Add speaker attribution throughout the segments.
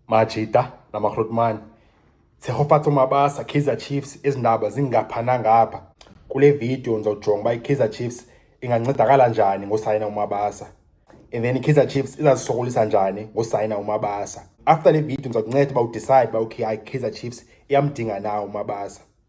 Speaker 1: Majita namakrotmani tshegofatso mabasa kaizer chiefs ezi ndaba zingapha nangapha kule vidiyo ndizawujonga uba ikaizer chiefs ingancedakala njani ngosayina umabasa and then ikaizer chiefs izazisokolisa njani ngosayina umabasa after le vidiyo ndizawukunceda uba udicide uba okay hayi ikaizer chiefs iyamdinga na umabasa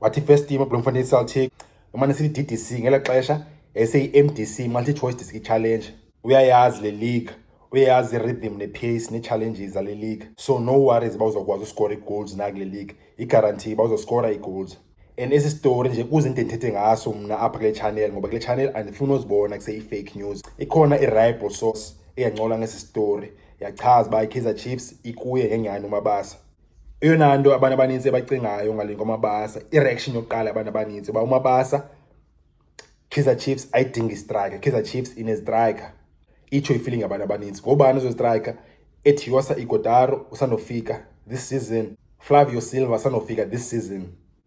Speaker 1: wathi first team ubloemfontein celtic emane sithi ddc ngela xesha yayiseyi-mdc multi-choice district challenge uyayazi le league uyayazi i-rhythm ne-pace nee-challenges zale league so no worries uba uzawukwazi uskora ii-goals na kule league igarantii uba uzoskora ii-goals and esi story nje kuze into endithethe ngaso mna apha kule channel ngoba kule channel andifuni uzibona kuseyi-fake news ikhona i-rible source eyancola ngesi story yachaza uba i-kaizer chiefs ikuye ngenyani umabasa eyona nto abantu abanintsi ebacingayo ngale ngomabasa ireaction yokuqala abantu abanintsi uba umabasa kaizer chiefs ayidinga istrike kaizer chiefs inestrike itsho ifeeling abantu abanintsi ngobani ezostrike ethi yosa igodaro usanofika this season flavio silva usanofika this season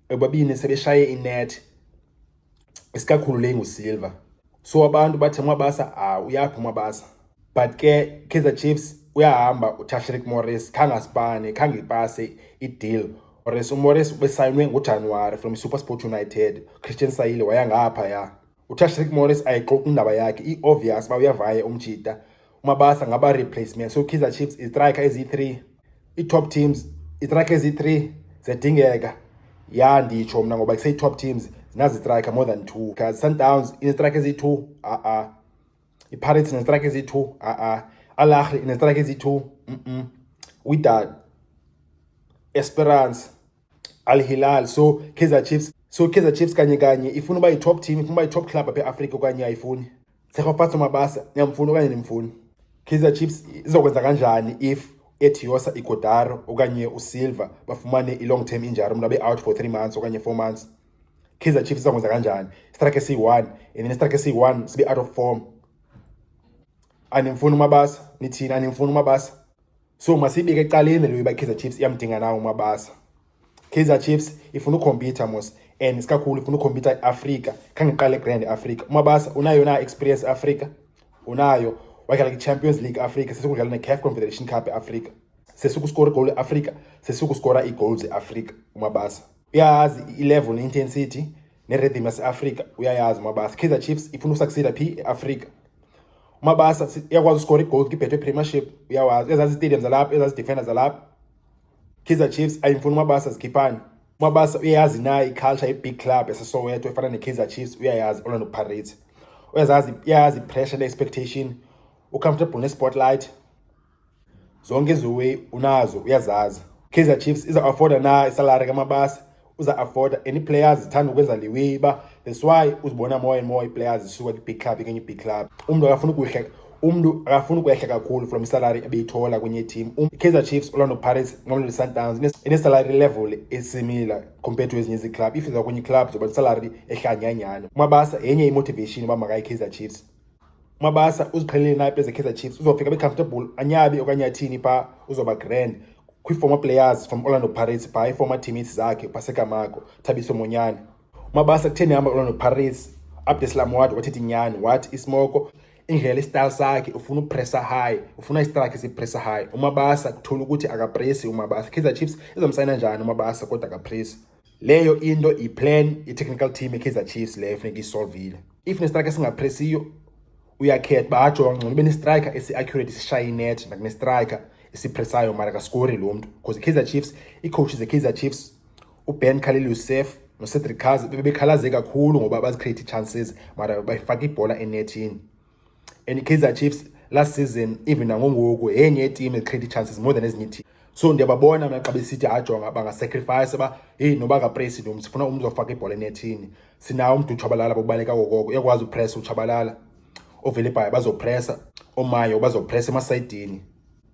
Speaker 1: ebabini sebeshaye inethi isikakhulu le ngusilver so abantu bathe umabasa ah uyaphi umabasa but ke kaizer chiefs uyahamba utashrik morris khange asipane khange ipase ideal ores umorris ubesayinwe ngojanuwari from super sport united christian sayile wayangaphaya utashrik morris ayixoxi indaba yakhe i-obvious uba uyavaya umjita umabasa ngaba-replacement so kaizer chiefs istrike ezi-three ii-top teams istrike ezi-three ziyadingeka ya nditsho mna ngoba kusey-top teams zinazistrike more than two because sundowns inestrike ezi-two a-a ipirates inestrike ezi-two a-a alahri inestrike ezi-two mm-mm widad esperance Al Hilal so Kaizer Chiefs so Kaizer Chiefs kanye kanye ifuna uba yi-top team ifuna uba yi-top club apha eAfrika okanye ayifuni Tshegofatso Mabasa niyamfuna okanye nimfuni Kaizer Chiefs izokwenza kanjani if Etiosa Igodaro okanye uSilva bafumane i-long term injury umntu abe out for three months okanye four months Kaizer Chiefs izokwenza kanjani istrike siyi-one and then istrike siyi-one sibe out of form animfuni umabasa nithini animfuni umabasa So masiyibeke ecaleni leyo uba iKaizer Chiefs iyamdinga nawo uMabasa. Kaizer Chiefs ifuna ukhompyutha mos and isikakhulu ifuna ukhompyutha iAfrika. Khange iqale grand iAfrika. UMabasa unayo na experience eAfrika? Unayo. Wadlala kwiChampions League eAfrika, sesikudlala neCAF Confederation Cup eAfrika. Sesikuskora igoli eAfrika, sesikuskora iigoals eAfrika uMabasa. Uyayazi ilevel neintensity nerhythm yaseAfrika uyayazi uMabasa. Kaizer Chiefs ifuna ukusucceeda phi eAfrika. umabasa uyakwazi uskora igold kibhethwe premiership uyawazi ezazi stadium zalapha ezazi defender zalapha kaizer chiefs ayimfuni umabasa zikhiphani umabasa uyayazi naye iculture ye-big club esesoweto efana ne-kaizer chiefs uyayazi orlando pirates uyazazi uyayazi ipressure ne-expectation ucomfortable ne-spotlight zonke iziway unazo uyazazi kaizer chiefs iza afforda na isalary kamabasa uza afforda any players zithanda ukwenza le way uba that's why uzibona more and more iplayers zisuka kwi-big club ikenye i-big club umntu akafuna ukuhleka umntu akafuna ukwehla kakhulu from isalary ebeyithola kwenye itim um, kaizer chiefs orlando pirates mamelodi sundowns inesalary level esimila compared to ezinye iziclub if iza kwenye iclub zoba nesalary ehlanyanyana umabasa yenye imotivation uba makayi-kaizer chiefs umabasa uziqhelele nayipe zekaizer chiefs uzofika becomfortable anyabi okanye athini phaa uzoba grand kwii-former players from orlando pirates phaa i-former teammates zakhe upasekamako thabiso monyane umabasa kutheni hamba orlando pirates abdeslamwad wathetha inyani wathi isimoko indlela isitayile sakhe ufuna upressa high ufuna isitrakhe sipressa high umabasa kuthola ukuthi akapresi umabasa kaizer chiefs izomsayina njani umabasa kodwa akapresi Leyo into iplan i-technical team ye-Kaizer Chiefs leyo efuneka iyisolvile. If nestrike esingapresiyo uyakhetha uba ajo ngcono ube nestrike esi-accurate sishaye inet nakunestrike esipresayo mara kaskori lo mntu because i-Kaizer Chiefs iicoach ze-Kaizer Chiefs uBen Khalil Youssef noCedric Kaze bebekhalaze kakhulu ngoba bazicreate ii-chances mara bayifaka ibhola enethini. and ikaizer chiefs last season even nangongoku yenye yetim ecreate ii-chances more than ezinye itim so ndiyababona mna xa besithi ajonga bangasacrifice uba heyi noba kapresi nomntu sifuna umntu uzofaka ibhola enethini sinawo umntu utshabalala bobaleka kokoko uyakwazi upresa utshabalala ovelebhayo bazopresa omayo bazopresa emasayidini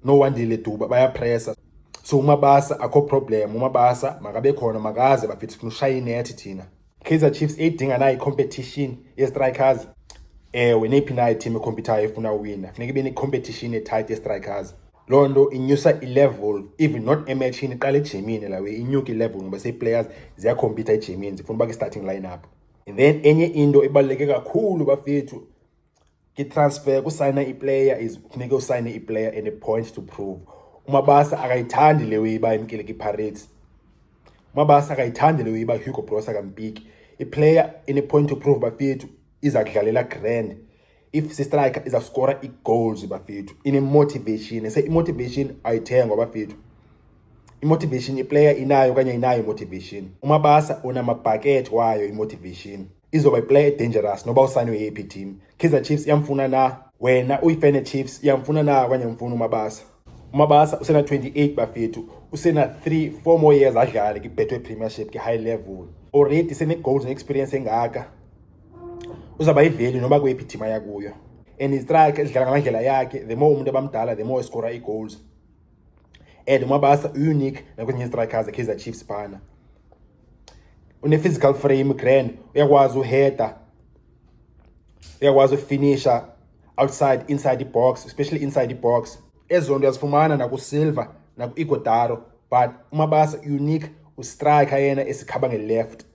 Speaker 1: no wandile duba bayapresa so umabasa akho problem umabasa makabe khona makaze bafithi funa ushaya inethi thina kaizer chiefs eyidinga nayo icompetition yestrikers ewe neyiphi nayo team ekhompyuthayo efuna uwina funeka ibe necompetition etight yestrikers loo nto inyusa ilevel even not ematshini iqala ejimini lawe inyuke ilevel ngoba seiplayers ziyakhompyutha ejimini zifuna uba kwi-starting line up and then enye into ebaluleke kakhulu bafethu Ngitransfer kusayina iplayer is kufuneka usayine iplayer and a point to prove. UMabasa akayithandi le uyiba emkile kwiPirates. UMabasa akayithandi le uyiba Hugo Broos akampiki. Iplayer in a point to prove bafethu iza kudlalela grand. If sistriker iza skora igoals bafethu in a motivation. Se imotivation ayithengwa bafethu. imotivation iplayer inayo okanye inayo imotivation umabasa unamabhakethi wayo imotivation izoba iplay edangerous noba usayinwe yeyiphi team kaizer chiefs iyamfuna na wena uyifene chiefs iyamfuna na okanye mfuna umabasa umabasa usena-28 bafethu usena-3 four more years adlale kibethwe premiership kwi-high level already sene-goals ne-experience engaka uzawuba yiveli noba kweyiphi team aya kuyo and istrike edlala ngamandlela yakhe the more umuntu abamdala the more escora ii-goals and umabasa unique nakwezinye istrikers ekaizer chiefs phana une-physical frame grand uyakwazi uheader uyakwazi ufinisha outside inside ibox especially inside ibox ezo nto uyazifumana nakusilver naku-igodaro but umabasa unique ustrike yena esikhaba nge-left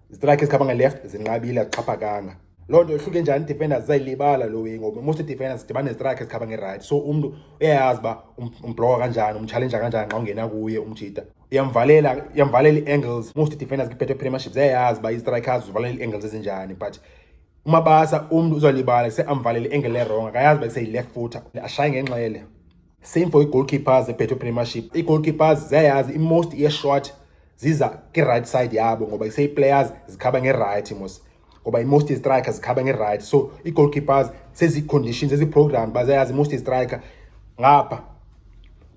Speaker 1: zitrike ezikhaba nge-left zinqabile azixhaphakanga loo nto ihluke njani defenders zayilibala lo way ngoba most defenders dibane nezitrike ezikhaba nge-right so umntu uyayazi uba um, umbloka kanjani umtshalenja kanjani xa ungena kuye umjita yamvalela yamvalela ii-angles most defenders kwibeto premiership ziyayazi uba i-strikers uvalela ii-angles ezinjani but umabasa umntu uzalibala kuse amvalela i-angle erong akayazi uba kuseyi-left footer ashaye ngenxele same for ii-goalkeepers ebeto premiership ii-goalkeepers ziyayazi i-most ye-short ziza kwi-right side yabo ngoba iseyi-players zikhaba ngerayithi mos ngoba i-most striker zikhaba nge-right so ii-goalkeepers sezi-conditions ezi-program bazayazi i-most striker ngapha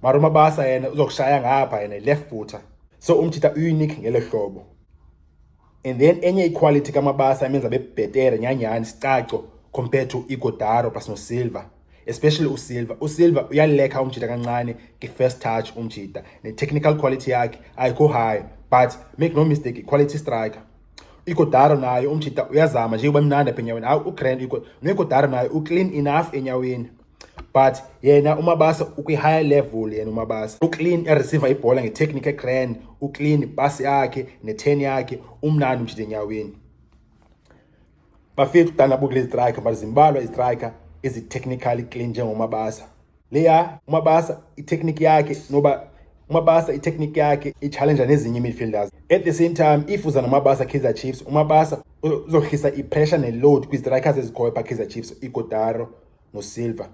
Speaker 1: mara umabasa yena uzokushaya ngapha yena left footer so umthitha unique ngelo hlobo and then enye iquality kamabasa emenza bebhetere nyanyhani sicaco compared to igodaro plus nosilver especially usilver usilver uyalekha umjita kancane nge-first touch umjita ne-technical quality yakhe ayikho high but make no mistake i-quality striker ikodaro naye umjita uyazama njengoba mnandi apha enyaweni hayi ugrand nekodaro naye uclean enough enyaweni but yena umabasa ukwi-higher level yena umabasa uclean ereceiva ibhola ngetechnique egrand uclean ibhasi yakhe ne-ten yakhe umnandi umjita enyaweni Bafethu kudala bukule striker but zimbalwa istriker ezi technically clean njengomabasa. Leya umabasa itechnique yakhe noba umabasa itechnique yakhe ichallenge nezinye imidfielders. At the same time if uza nomabasa Kaizer Chiefs umabasa uzohlisa ipressure neload kwistrikers ezikhoyo pha Kaizer Chiefs iGodaro noSilva.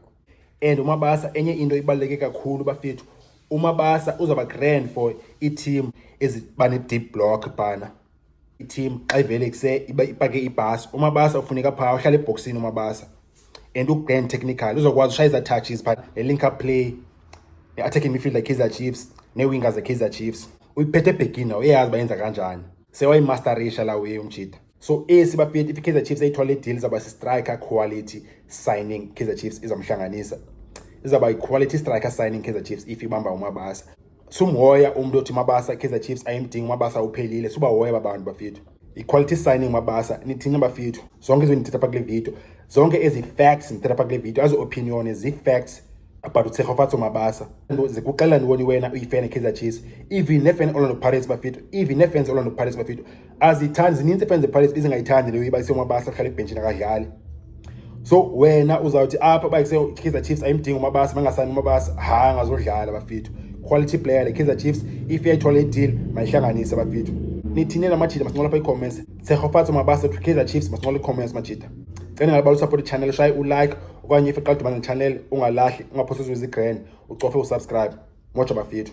Speaker 1: And umabasa enye into ibaluleke kakhulu bafethu umabasa uzaba grand for iteam eziba ne-deep block bhana. i-team xa ivele kuse ipake ibhasi umabasa ufuneka phaa uhlala ebhoksini umabasa and ugrand technical uzokwazi ushaya izatouches phaa ne-link up play ne-attacking midfield yekaizer chiefs nee-wingers yekaizer chiefs uyiphethe ebhekini nawo uyayazi uba yenza kanjani sewayimasterisha la uye umjita so esi bafethi i-kaizer chiefs ayithole ideal izawuba si-striker quality signing kaizer chiefs izamhlanganisa izawuba yi-quality striker signing kaizer chiefs if ibamba umabasa sumhoya umntu othi mabasa ikaizer chiefs ayimdingi mabasa uphelile subahoya babantu bafethu i-quality signing mabasa nithini bafethu zonke izinto ndithetha pha kule video zonke ezi facts ndithetha pha kule video azi-opinione zii-facts about utshegofatso mabasa zikuxelela ntoni wena uyifan ekaizer chiefs even nefan orlando pirates bafethu even nefans orlando pirates bafethu azithandi zininzi iifani zepirates ezingayithandi leyo iba isengumabasa ahlala ebhentshini akadlali so wena uzawuthi apha uba kaizer chiefs ayimdingi umabasa bangasani umabasa ha angazodlala bafethu quality player le kaizer chiefs if yayithole ideal mayihlanganise bafethu nithini namajita masincola apha iicomments sekhofatsa umabasa to kaizer chiefs masincola iicomments majita cela ngabala usupport ichannel shaye ulike okanye if iqala udibana nechannel ungalahli ungaphosiswe zigrand ucofe usubscribe moja bafethu